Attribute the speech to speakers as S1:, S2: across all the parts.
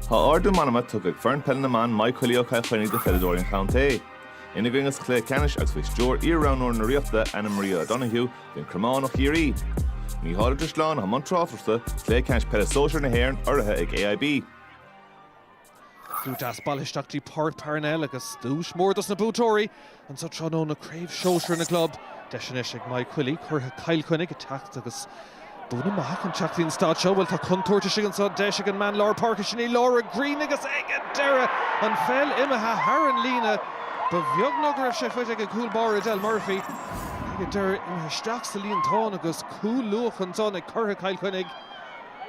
S1: Tá ardú meanma tugtha ag foireann peile na mban Maigh Coilí ó Chill Chainnigh do pheileadóirí an chontae. Ina gcoinne sa chluiche ceannais agus faoi stiúir iar-roghnóir na Ríochta, Anna Maria O'Donoghue, bhí An Cromán ó Chiarraí. Mícheál Ó Drisleáin i mbun tráchta sa chluiche ceannais peile sóisear na hÉireann, urraithe ag AIB.
S2: Slua deas bailithe isteach dtí Páirc Parnell agus duais mór dos na buaiteoirí anseo tráthnóna, Craobh Shóisir na gClub. Deis anois ag Maigh Coilí, curaithe Chill Chainnigh, a teacht agus buanna maithe chun teacht dtí'n staid seo. Bhuel tá contúirt istigh anseo, deis ag an mbean lár páirce sin í Laura Greene agus ag an deireadh an pheil imithe thar an líne. Ba bheag ná go raibh sé faighte ag an gcúl báire Edel Murphy ach ag an deireadh imithe isteach sa líontán agus cúl luath ansan ag curaithe Chill Chainnigh.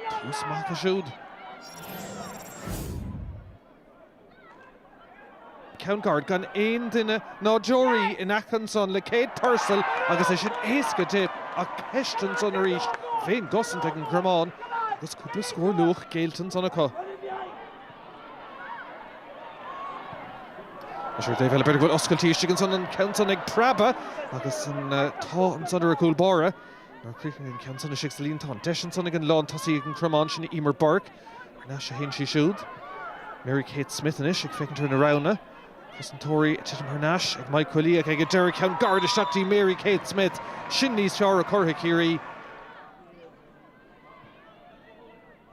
S2: Tús maith acu siúd. ceann gairid gan aon duine ná deoraí in aice ansan le Kate Purcell agus é sin éasca di ach ceist ansan arís fén gcosaint ag an gCromán agus cúpla scór luath géillte ansan acu. Deis ar an dtaobh eile b'fhéidir bhfuil oscailt istigh ansan an ceann san ag preabadh agus an t-ádh ansan ar an gcúl báire. Nár chríochnaigh an ceann san istigh sa líontán. Deis ansan ag an lántosaí ag an gCromán sin í Emer Burke. Thar n-ais a théann sí siúd. Mary Kate Smith anois ag féachaint ar na roghanna. Cosantóirí ag titim thar n-ais, ag Maigh Coilí ach ag an deireadh ceann gairid isteach dtí Mary Kate Smith. Sin níos fearr ó churaithe Chiarraí.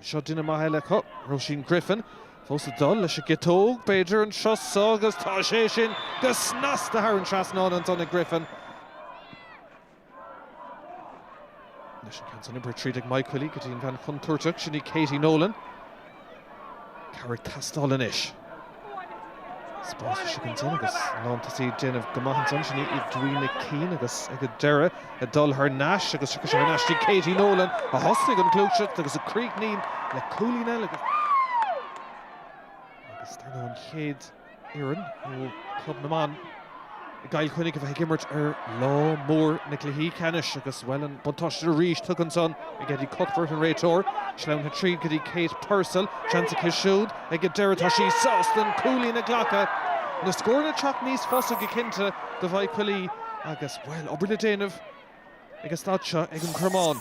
S2: Seo duine maith eile acu, Róisín Griffin. Fós ag dul leis an gciotóg, b'fhéidir, an turas so agus tá sé sin go snasta thar an trasnán ansan ag Griffin. Anois an ceann san oibrithe tríd ag Maigh Coilí go dtí an bhean chontúirteach sin í Katie Nolan. Cabhair ag teastáil anois. Spás istigh ansan agus lántosaí déanamh go maith ansan sin í Edwina Keane agus ag an deireadh a dul thar n-ais agus thiocfadh sé thar n-ais dtí Katie Nolan a thosnaigh an gluaiseacht agus a chríochnaíonn le cúilín eile agus dar ndóigh an chéad fhoireann ó Chlub na mBan i gCill Chainnigh a bheith ag imirt ar lá mór na gcluichí ceannais agus, bhuel, an buntáiste arís tugtha anseo ag Eddie Cuthbert, an réiteoir. Sleamhnaithe tríd go dtí Kate Purcell. Seans aici siúd ag an deireadh. Tá sí sásta an cúilín a ghlacadh. Na scóranna ag teacht níos fusa go cinnte do Mhaigh Coilí agus, bhuel, obair le déanamh. ag an staid seo ag an gCromán.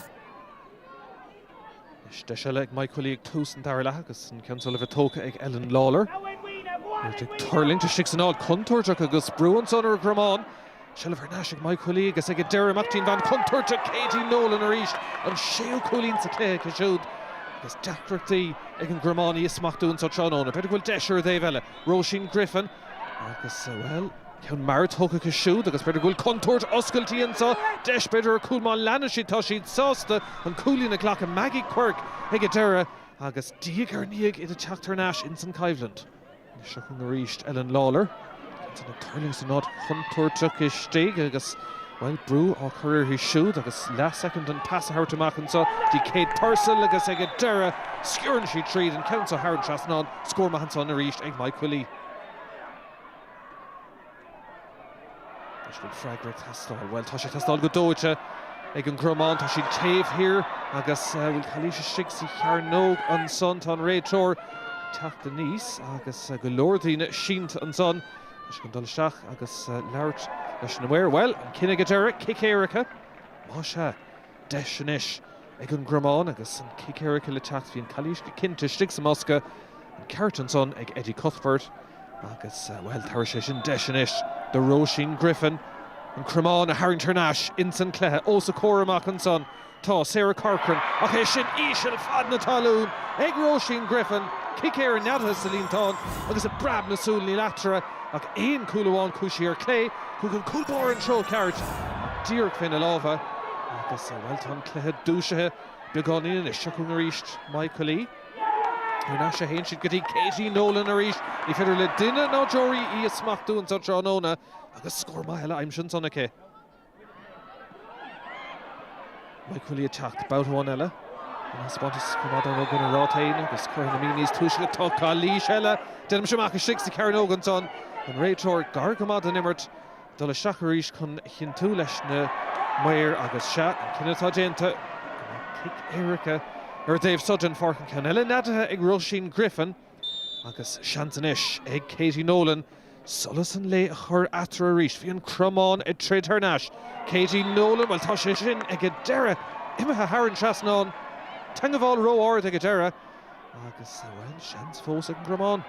S2: Anois deis eile ag Maigh Coilí ag tús an dara leath agus an ceann seo le bheith tógtha ag Ellen Lawlor. Iad ag tuirlingt istigh san áit contúirteach agus brú anso ar an gCromán. Seilbh thar n-ais ag Maigh Coilí agus ag an deireadh amach dtí'n bhean chontúirteach Katie Nolan arís, an séú cúilín sa chluiche aici siúd. Agus deacrachtaí ag an gCromán í a smachtú anso tráthnóna. B'fhéidir go bhfuil deis ar an dtaobh eile. Róisín Griffin. Agus, bhuel, ceann mar é tógtha acu siúd agus b'fhéidir go bhfuil contúirt oscailtí anseo, deis b'fhéidir ar chúl má leanann siad, tá siad sásta an cúilín a ghlacadh, Maggie Quirke ag a dheireadh agus diaidh ar ndiaidh iad ag teacht thar n-ais ins an gcoimhlint. Seo chugainn arís Ellen Lawlor, ag tuirlingt san áit chontúirteach istigh agus, bhuel, brú á chur uirthi siúd agus leathshoicind an pas a thabhairt amach anso dtí Kate Purcell agus ag an deireadh sciorrann sí tríd, an ceann seo thar an trasnán. Scór maith ansan arís ag Maigh Cuilinn. Anois bhfuil freagra ag teastáil? Bhuel, tá sé ag teastáil go dóite ag an gCromán. Tá siad taobh thiar agus bhfuil calaois istigh sa chearnóg ansan. Tá an réiteoir teacht aníos agus go leor daoine sínte ansan. Tá sé ag dul isteach agus labhairt leis na maoir. Bhuel, an cinneadh ag a dheireadh, cic éirice, más ea. deis anois ag an gCromán agus an cic éirice le teacht. Bhí an chalaois go cinnte istigh sa mbosca. An ceart ansan ag Eddie Cuthbert agus, bhuel, tabharfaidh sé sin deis anois do Róisín Griffin an Cromán a tharraingt thar n-ais ins an cluiche. Ós a comhair amach ansan tá Sarah Corcoran ach é sin íseal fad na talún ag Róisín Griffin. Cic éirice neadaithe sa líontán agus i bpreab na súl níl eatarthu ach aon chúl amháin, cúisí ar clé, Chuaigh an cúl báire an treo ceart díreach fé na lámha agus, bhuel, tá an cluiche dúisithe beagáinín anois. Seo chugainn arís Maigh Cuilinn. Thar n-ais a théann siad go dtí Katie Nolan arís. Ní féidir le duine ná deoraí í a smachtú anseo tráthnóna agus scór maith eile aimsithe ansan aici. Maigh Cuilinn ag teacht babhta amháin eile an spás á choimeád an-mhór go dtí an ráta féin agus curtha ina mín níos túisce go dtóg calaois eile. Deinimis amach istigh sa chearnóg ansan, an réiteoir gar go maith don imirt, ag dul isteach arís chun a chinntiú leis na maoir agus sea, an cinneadh atá déanta, cic éirice ar an dtaobh súd den pháirc, an ceann eile neadaithe ag Róisín Griffin. Agus seans anois ag Katie Nolan solas an lae a chur eatarthu arís. Bhí an Cromán ag troid thar n-ais. Katie Nolan, bhuel tá sé sin ag an deireadh, imithe thar an trasnán. Teangabháil ró-ard ag an deireadh agus bhuel, seans fós ag an gCromán.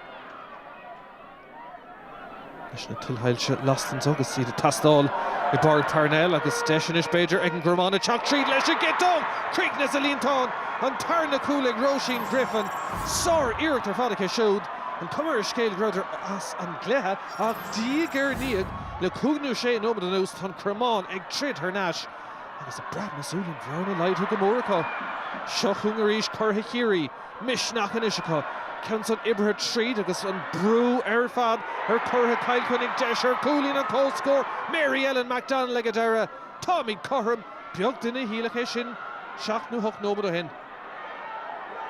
S2: Leis na tuilsoilse lasta agus iad ag teastáil i bPáirc Parnell agus deis anois b'fhéidir ag an gCromán ag teacht tríd leis an gciotóg críochnaithe sa líontán, an tarna cúl ag Róisín Griffin. Sár-iarracht ar fad aici siúd. An cuma ar an scéal go rabhadar as an gcluiche ach diaidh ar ndiaidh le cúig nó sé nóiméad anuas tá an Cromán ag troid thar n-ais agus i bpreab na súl an bhearna laghdaithe go mór acu. Seo chugainn arís curaidh Chiarraí. misneach anois acu, ceann san oibrithe tríd agus an brú ar fad ar churaithe Chill Chainnigh, deis ar chúilín an chomhscóir, Mary Ellen McDonnell ag an deireadh. Táimid cothrom, beag duine a shílfeadh é sin seacht nó hocht nóiméad ó shin.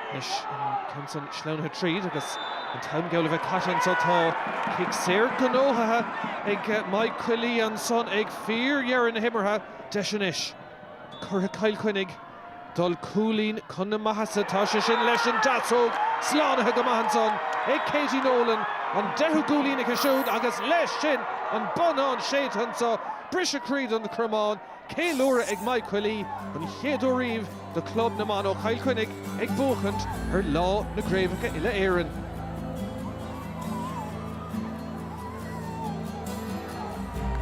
S2: Anois an ceann san sleamhnaithe tríd agus an t-am geall le bheith caite anseo. Tá cic saor gnóthaithe ag Maigh Coillí ansan ag fíordheireadh na himeartha. Deis anois ag curaithe Chill Chainnigh. Dul cúilín chun na maitheasa, tá sé sin leis an gciotóg slánaithe go maith ansan ag Katie Nolan, an deichiú gcúilín aici siúd agus leis sin an bonnán séidte anso, briseadh croí don Chromán, ceiliúradh ag Maigh Coillí, an chéad uair riamh do Chlub na mBan ó Chill Chainnigh ag buachaint ar Lá na gCraobhacha Uile-Éireann.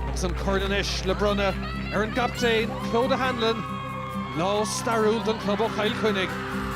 S2: Agus an corn anois le bronnadh ar an gcaptaen, Clodagh Hanlon, lá stairiúil don chlub ó Chill Chainnigh.